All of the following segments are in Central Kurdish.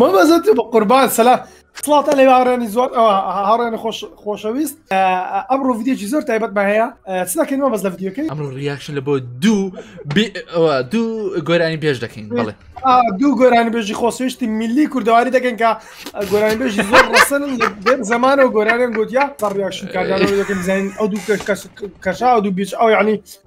مەمەزت بە قوربان سەلا خڵاتە لە هاڕێنی زۆر ئەوە هاڕێنە خۆشەویست ئەمڕۆ ڤیددیوکی زۆر تایبەتمە هەیە چ دەکەینەوە بەس لە ڤیددیوکەی ئەمڕۆ ریاکشن لە بۆ دوو دوو گۆرانی پێش دەکەین بڵێ دوو گۆرانی بێژی خۆسوێشتی میلی کوردەواری دەکەن کە گۆرانی بێژی زۆر ڕسن زمانەوە گۆرانیان گوتیا بە ڕیاکشن کاردانەوە دەکەم زین ئەو دوو کەش کەشا دوو بیچ ئەو یعنی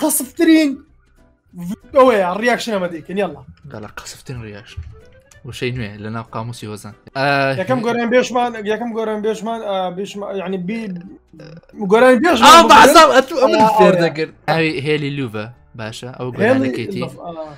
قەسفترین ئەوەیە ڕیاکشن ئەمە دەیکەن یاڵا دەڵە قەسفتن ڕیاش وشەی نوێ لە ناو قاموسی هۆزان یەکەم گۆران بێشمان یەکەم گۆران بێشمان ینی گۆران بێش فێر دەگرت ئەوی هێلی لوڤە باشە ئەو گۆرانەکەیتی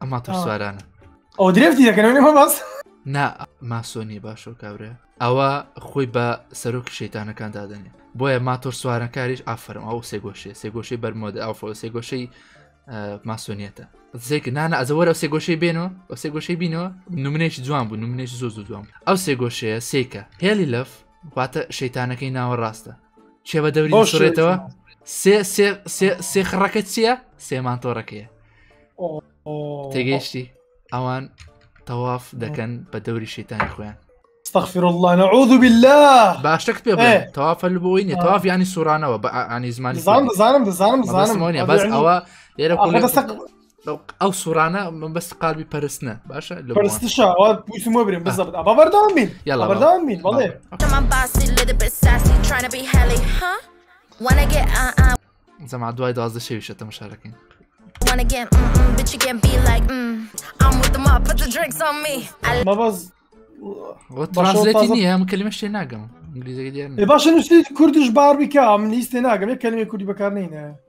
ئە ماتۆر سوارانە ئەو درێفتی دەکەنەوە نەمە باس نا ماسۆنی باشە و کابرا ئەوە خۆی بە سەرۆک شەیتانەکان دادەنێ بۆیە ماتۆر سوارەکاریش ئافرم ئەو سێگۆشێ سێگۆشەی بەرمۆدە ئەو فۆ سێگۆشەی ماسۆنیەتە زێک نانە ئەزەوەر ئەو سێگۆشەی بێنەوە ئەو سێگۆشەی بینەوە نمونێکی جوان بوو نمونێکی زۆ زوو دوام ئەو سێگۆشەیە سێکە هێلی لەف واتە شەیتانەکەی ناوە ڕاستە کێ بە دەوری سڕێتەوە سێ خڕەکە چییە سێمان تۆڕەکەیە تێگەیشتی ئەوان تەواف دەکەن بە دەوری شەیتانی خۆیان استغفر الله نعوذ بالله باشتەک پێ تەواف هەل بۆی نیە تەواف ینی سوورانەوە بە ئانی زمانی زانم زانم دەزانم زانم بەس ئەوە لێرە ئەو سوڕانە من بەست قالبی پەرستە باشە لە پرسمە برم بزە بەبەردان بین یاڵبەردان بین بەڵێ زەما دوای دوازدە شەویشە تەمەشارەکەین مەبەز باشێتی نیە ئەم کلمە شتێ ناگەم باشە نووسی کوردش بار بکە من لیستێ ناگەم کلمی کوردی بەکار نینە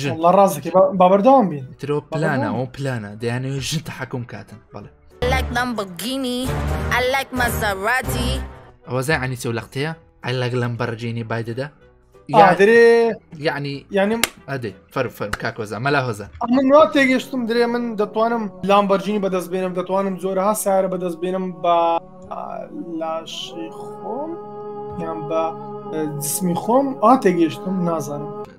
ژن والله ڕاستەکەی با- با بەردەوام بین ترۆ پلانە ئەو پلانە دەیانەوێت ژن تەحکم کاتن بەڵێ I like Lamborghini. I like Maserati. ئەوە زای عنی چەو لەقتەیە ئەلەگ لەم بەڕجێنی بای دەدا آه، درێ یعنی یعنی ئەدێ فەر فەرم کاکۆزا مەلا هۆزە من وا تێگەشتم درێ من دەتوانم لامبەرجینی بەدەست بێنم دەتوانم جۆرەها سارە بەدەست بێنم بە آه، لاشی خۆم یان بە آه، جسمی خۆم ئا تێگەشتم نازانم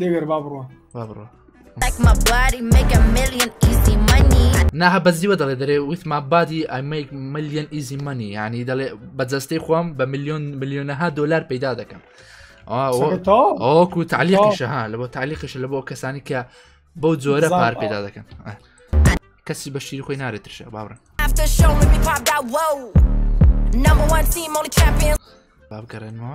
دەگەر با بڕۆ با بڕۆ ناها بەزیوە دەڵێ دەرێ ویتما بادی ئەمەیک ملیۆن ئیزی مەنی ینی دەڵێ بە جەستەی خۆم بە ملیۆن ملیۆنەها دلار پەیدا دەکەم ئەوکو تعلیقیشەها لە بۆ تعلیقش لە بۆ کەسانی کە بەو جۆرە پار پێدا دەکەن کەسی بە شیر خۆی نارێت ترشە باڕن بابگەڕێنەوە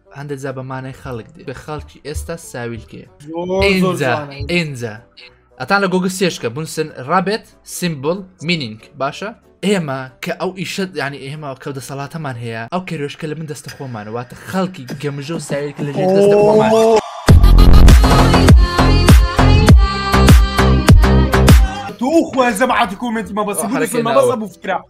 هەندێک جا بە مانای خەڵک دێ بە خەڵکی ئێستا ساویلکێ ئینجا ئەتان لە گۆگە سێشکە بنسن ڕابێت سیمبل مینینگ باشە ئێمە کە ئەو ئیشت ینی ئێمە کە دەسەڵاتەمان هەیە ئەو کێرۆشکە لە من دەستە خۆمانەوەتە خەڵکی گەمژە و ساویلکە لە ژێ دەستە خۆمان. تو خوازم عاد كومنت ما بس ما بس ابو فكره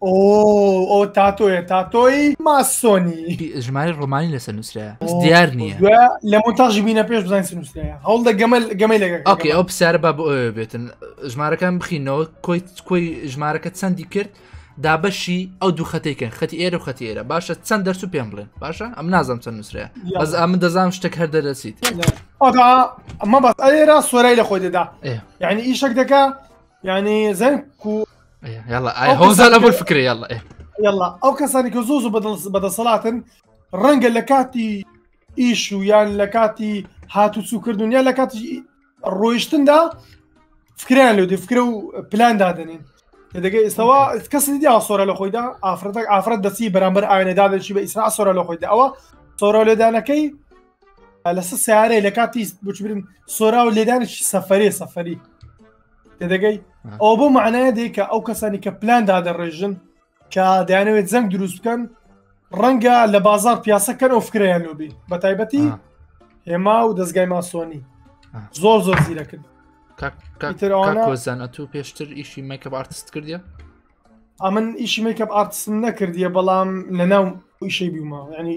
ئەو تاتۆیە تاتۆی ماسۆنی ژماری ڕۆمانی لەسەر نووسرە بەس دیار نییە لە مۆنتاژ بینە پێش بزانین چ نووسرە هەوڵدە گەمەل گەمەی لەگە ئۆکی ئەو پرسیارە با بۆ ئەوێ بێتن ژمارەکان بخینەوە کۆی کۆی ژمارەکە چەندی کرد دابەشی ئەو دوو خەتێکن خەتی ئێرە و خەتی ئێرە باشە چەند دەرس و پێم بڵێن باشە ئەم نازانم چەند نووسرە بەس ئەمن دەزانم شتێک هەر دەرەسیت ئەمە بەس ئەێرا سۆرای لە خۆی دەدا یعنی ئیشەک دەکە یعنی زەنگ کو یاڵە هۆزان ئەبول فکرە یاڵە یاڵە ئەو کەسانی کە زۆز و بەدەسەڵاتن ڕەنگە لە کاتی ئیش و یان لە کاتی هاتوچووکردن یا لە کاتی ڕۆیشتندا فکریان لەو فکرە و پلان دادنین دەگە ئێستاوا کەسی دی ئاسۆرە لە خۆیدا ئافرەتەک ئافرەت دەسی بەرامبەر ئاوێنەدا دەشی بە ئیسرا سۆرە لە خۆیدا ئەوە سۆرە لێدانەکەی لەسە سیارەی لە کاتی بچبرن سۆرا و لێدانێکی سەفرێ سەفری تێدەگەی ئەو بۆ معناە دێکە ئەو کەسانی کە پلان دادەڕێژن کە دەیانەوێت زەنگ دروست بکەن ڕەنگە لە بازار پیاسەکەن ئەو فکریان لۆبی بە تایبەتی هێما و دەستگای ماسۆنی زۆر زۆر زیرەکرد کۆزانە تو پێشتر ئیشی مەکە ئارتست کردە ئەمن ئیشی مەکە ئارتسم نەکردیە بەڵام لە ناو ئیشەی بیومە ینی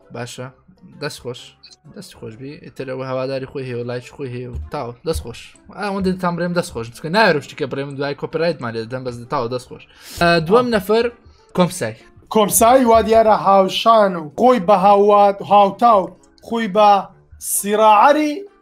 باشە دەست خۆش دەست خۆشبی ئترەوە هەواداری خۆی هەیە لایچ خۆی هەیە و تاو دەست خۆش ئەوەندە تام برێم دەست خۆش چکە ناوێشتی کە برێم دوای کۆپرایتمان لێ دەم بەس تاو دەست خۆش دووەم نەفەر کۆمسای کۆمسایی وا دیارە هاوشان و خۆی بە هاوات هاوتا و خۆی بە سیڕعری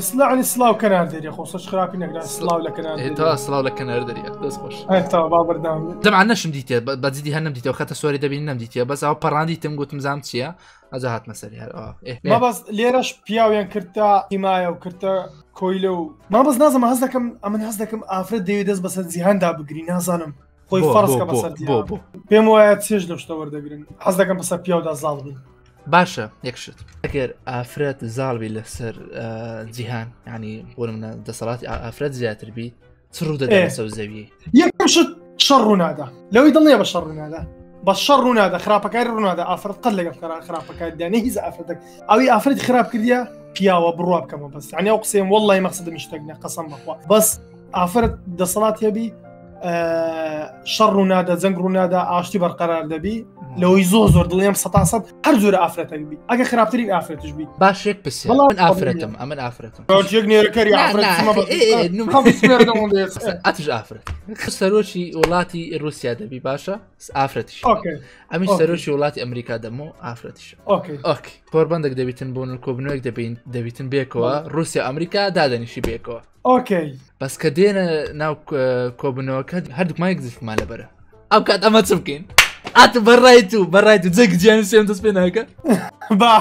سلاعلی سلااو کەنار دەری خۆ سەر خراپی نەگران سلااو لە کەنار تا سلااو لە کەنار دەری دەست خۆش تا بابردام دەما نەشم دیتێ بەجددی هەر نەمدیتەوە خەتە سۆری دەبین نەمدیتە بەس ئەو پەڕاندی تم گوتم زام چییە ئەجا هاتمە سەری هەر بەس لێرەش پیاویان کردتا ئیمایە و کردە کۆیلە و ما بەس نازم هەز دەکەم ئەمن هەز دەکەم ئافرەت دەوێت دەست بەسەر جیهاندا بگری نازانم خۆی فەرزکە بەسەر بۆ بۆ پێم وایە چێش لە شتە وەردەگرن حەز دەکەم بەسەر پیاودا زاڵ بن باشە یەکشت ئەگەر ئافرەت زاڵبی لەسەر جیهان ینی بۆ منە دەسەڵاتی ئافرەت زیاتر بی چ ڕوو دەدەێت سەو زەوی یەکشت شەڕ ڕوونادا لەوەی دڵنیە بە شەڕ ڕوونادا بە شەڕ ڕوونادا خراپەکاری ڕوونادا ئافرەت قەت لەگەڵ خرا خراپەکاردانە هیز ئافرەتەک ئەوی ئافرەت خراپ کردە پیاوە بڕوا بکەمە بەس عنی ئەو قسەم وڵی مەخصدمیشتەکنە قسم بخوا بەس ئافرەت دەسەڵات هەبی شەڕ ڕوونادا جەنگ ڕوونادا ئاشتی بەرقەرار دەبی لەوەی زۆ زۆر دڵیم سە سەد هەر جۆرە ئافرەتەک بی ئەگە خراپترین ئافرەتش بی باشێک پرسێ من ئافرەتم ئەمن ئافرەتم نێرەکەری ئەتش ئافرەت سەرۆکی وڵاتی رووسیا دەبی باشە ئافرەتش ئەمی سەرۆکی وڵاتی ئەمریکا دەمە ئافرەتش کۆربندێک دەبیتن بۆن کۆبنەوەک دەبین دەبیتن بێکەوە رووسیا ئەمریکا دادەنیشی بێکەوە ئۆکەی بەس کە دێنە ناو کۆبنەوەکە هەردووکمان یەک زیفمان لەبەرە ئەو کات ئەمە چ بکەین ئات بەڕای تو بەڕای تو جێک جیان سێم دەست پێ ناکە با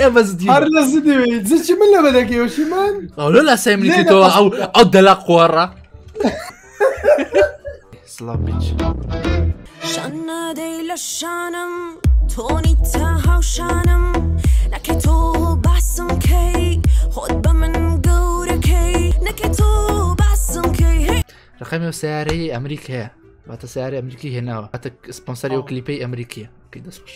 ئەمە زدی هەر لە زدی زچی من لە بەدەکەوەشی من ئەو لە لاسای منی تۆ ئەو ئەو دەلا قۆڕە سڵاو بیچ شانادەی لە شانم تۆنی تا هاوشانم نەکە تۆ باسم کەی خۆت بە من گەورەکەی نەکە تۆ باسم کەی ڕقەمی و سیارەی ئەمریکایە واتە سیارە ئەمریکی هێناوە ئەتە سپۆنسەری و کلیپی ئەمریکیە کە دەستخش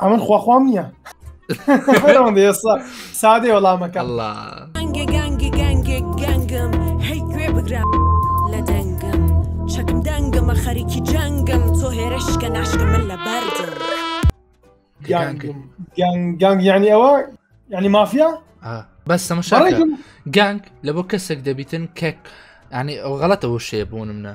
ئەمن خواخوام نییە ئێستا سادێ وەڵامەکە الله گەنگێ گەنگێ گەنگێ گەنگم هەی گوێ بگرە لە دەنگم چەکم دەنگمە خەریکی جەنگم تۆ هێرشکە ناشکە من لە بەردم گەنگم گەنگ گەنگ یعنی ئەوە یعنی مافیا آه. بەس تەمەشا بەڕێکم گەنگ لە بۆ کەسێک دەبیتن کەک یعنی ئەو غەڵەتەوە شێ بوونم نە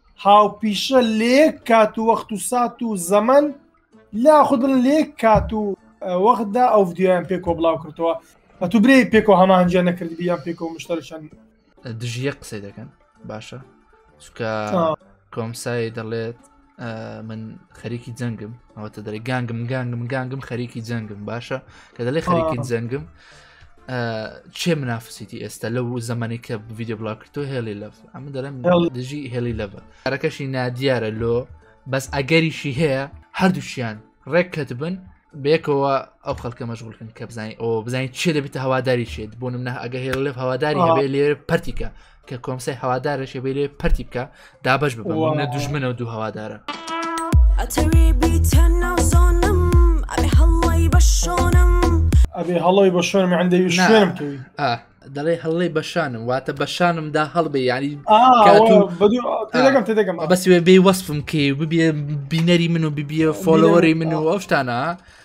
هاوپیشە لێک کات و وەخت و سات و زەمن لا خودن لێک کات و وەختدا ئەو ڤدیۆیان پێکۆ بڵاو کردەوە بە تو برێ پێکۆ هەمانجیان نەکرد بیان پێکۆ مشتەرشان دژیە قسەی دەکەن باشە چکە کۆمسایی دەڵێت من خەریکی جەنگم ئەوەتە دەڵێ گانگم گانگم گانگم خەریکی جەنگم باشە کە دەڵێ خەریکی جەنگم چێ منافسیتی ئێستا لەو زمانی کە ڤیددیو بڵاکردۆ هێلی لەف ئەمە دەرم دژی هێلی لەڤە کارەکەشی نادیارە لۆ بەس ئەگەریشی هەیە هەردووشیان ڕێک کەت بن بێکەوە ئەو خەڵکە مەشغولکن کە بزانین ئەو بزانین چێ دەبێتە هەواداری شێت بۆ منە ئەگە هێڵ لەف هەواداری هەبێ لێ پرتیکە کە کۆمسای هەوادارش بێ لێ پەرتی بکە دابش ببە دوژمنە و دوو هەوادارە ئەتەوێ بیتە ناو زۆنم ئەێ هەڵی بە شۆنم ئەێ هەڵی بە شوێنم ئەندەوی شوێنم کەوی دەڵێ هەڵی بەشانم واتە بەشانمدا هەڵبێ یاری بەسێ بێ وەسفم کێ ببێ بینەری من و ببیە فۆلەوەری من و ئەوشتانە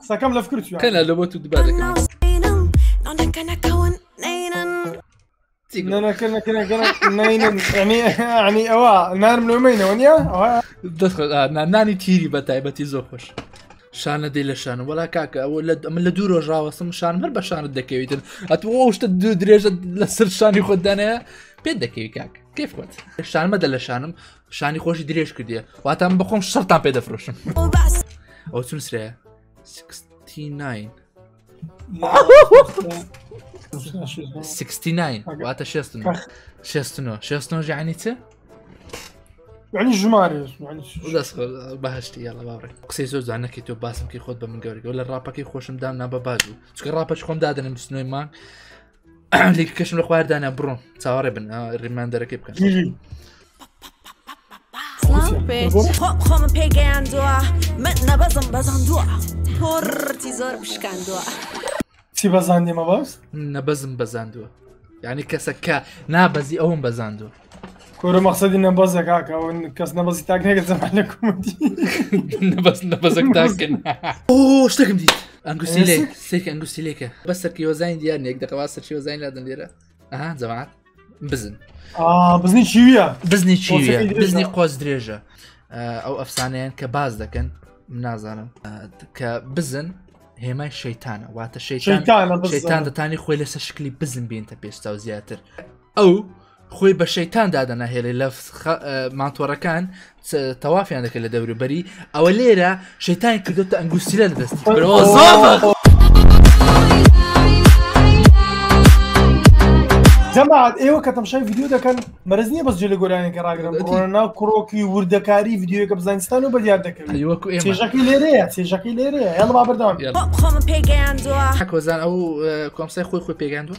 قسەکەم لە فکر چوە کەنا لە بۆ تو دوبار دەکەم ئەنی ئەوە نارم لۆمەینەوە نیە دەست نانی تیری بە تایبەتی زۆر خۆش شانە دەی لە شان وڵا کاکە ئەوە لە ئەمە لە دوو ڕۆژ ڕاوەسم شان هەر بە شانت دەکەویتن ئەت شتە دوو درێژە لەسەر شانی خۆدانەیە پێ دەکەوی کاک کەف خۆت شانمەدە لە شانم پیشانی خۆشی درێژ کردێ واتە من بخۆم شەرتان پێ دەفرۆشم ئەو چون سرەیە 69 69 واتە 69 69 69 ژانی چ؟ یعنی ژمارێ دەست بەهشتی یاڵە باڕێ قسەی زۆر جوان نەکەی تۆ باسم کە خۆت بە من گەورگەوە لە ڕاپەکەی خۆشم دام نا بە باش بوو چکە ڕاپەچ خۆم دادنم بستنەوەی مانگ لێک کەشم لە خواردانە بڕۆم چاوەڕێ بن ڕێمان دەرەکەی بکەن خۆمە پێگەیاندووە من نەبەزم بەزاندووە پۆڕتی زۆر بشکاندووە چی بەزاندێمە باست نەبەزم بەزاندووە یعنی کەسەکە نابەزی ئەوم بەزاندووە کۆرە مەقصدی نەبەزە کاکە ئەو کەس نەبەزی تاک نەکە زەمان لە کومەتی نەبەز نەبەزەک تاکن ئۆ شتێکم دیت ئەنگوسی لێ سێک ئەنگوسی لێکە بە سەرکی وەزانین دیار نێک دەقەوا سەرچی وەزانین لادن لێرە ئەها جەماعات بزن بزنی چیویە بزنی چیویە بزنی قۆز درێژە ئەو ئەفسانەیان کە باز دەکەن نازانم کە بزن هێمای شەیتانە واتە شەیتان شەیتان دەتانی خۆی لەسەر شکلی بزن بینتە پێستا و زیاتر ئەو خۆی بە شەیتان دادەناهێلێ لە مانتۆڕەکان تەوافیان دەکرد لە دەوروبەری ئەوە لێرە شەیتان کردوتە ئەنگوسیلە لە دەستی جەماعات ئێوە کە تەمشای ڤیددیو دەکەن مەرز نییە بەس جێ لە گۆرانەکە ڕاگرن ناو کوڕۆکی وردەکاری ڤیددیوەکە بزانستان و بەدیار دەکەن چێژەکەی لێرەیە چێژەکەی لێرەیە هێڵ بابردان خۆم پێگەیاندووە کۆزان ئەو کۆمسای خۆی خۆی پێگەاندووە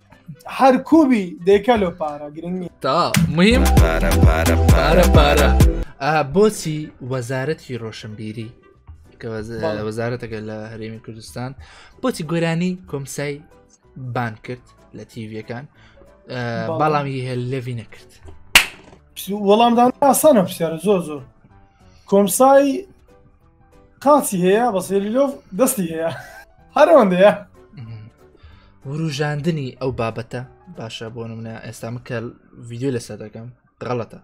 هەر کوبی دەیکە لۆ پارە گرنگی تا مهم پارە پارە پارە پارە بۆچی وەزارەتی ڕۆشنبیری وەزارەتەکە لە هەرێمی کوردستان بۆچی گۆرانی کۆمسای بان کرد لە تیڤەکان بەڵامی هێ لەوی نەکرد وەڵامدان ئاسانە پرسیارە زۆر زۆر کۆمسای قاچی هەیە بەس هێلیلۆڤ دەستی هەیە هەرەوەندەیە وروژاندنی ئەو بابەتە باشە بۆ منە ئێستا مکە ڤیددیو لەسەر دەکەم غەڵەتە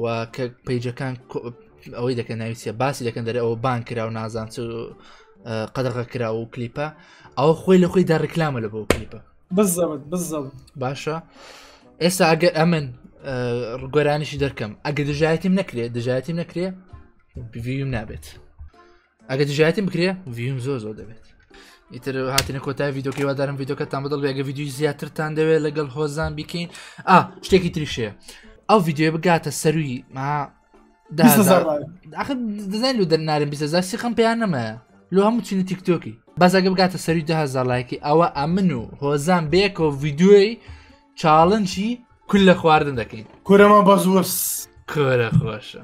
و کە پیجەکان ئەوەی دەکەن ناویسە باسی دەکەن دەرێ ئەوە بان کرا و نازان چ قەدەغە کرا و کلیپە ئەوە خۆی لە خۆی دا ڕکلامە لە بۆ کلیپە بزەوت بزەوت باشە ئێستا ئەگەر ئەمن گۆرانیشی دەکەم ئەگە دژایەتیم نەکرێت دژایەتیم نەکرێ بڤیم نابێت ئەگە دژایەتی بکرێ ڤیم زۆر زۆر دەبێت ئیتر هاتنە کۆتای یددیوکەی وادارم یددیوکەتان بەدڵ بێگە یددیوی زیاترتان دەوێت لەگەڵ هۆزان بیکەین ئا شتێکی تریشەیە ئەو یددیوە بگاتە سەروی ما دەزانین لو دەرنارم بیزار سیخم پێیان نەمایە لۆ هەموو چینە تیکتۆکی بەزاگە بگاتە سەروی دهزار لایکی ئەوە ئەمن و هۆزان بێکەوە یددیوی چاڵنچی کولە خواردن دەکەین کورەمە بەزوەس کورە خۆشە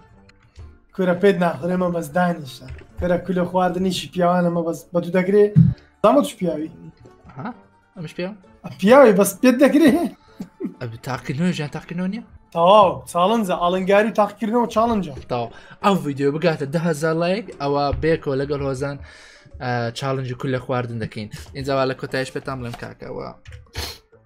کورە پێت ناخورێمە بەس دانیشە کورە کولە خواردنیشی پیاوانەمە بەس بە دوو دەگرێ دامە چ پیاوی ئەمش پێ پیاوی بەس پێت دەگرێ تاقینەوە ژیان تاقینەوە نیە تەواو چاڵنجە ئاڵنگاری و تاقیکردنەوە چاڵنجە تاو ئەو ڤیددیو بگاتە دههزار لایک ئەوە بێکەوە لەگەڵ هۆزان چاڵنج و کول لە خواردن دەکەین ئینجاوا لە کۆتایش پێتان بڵێم کاکەوە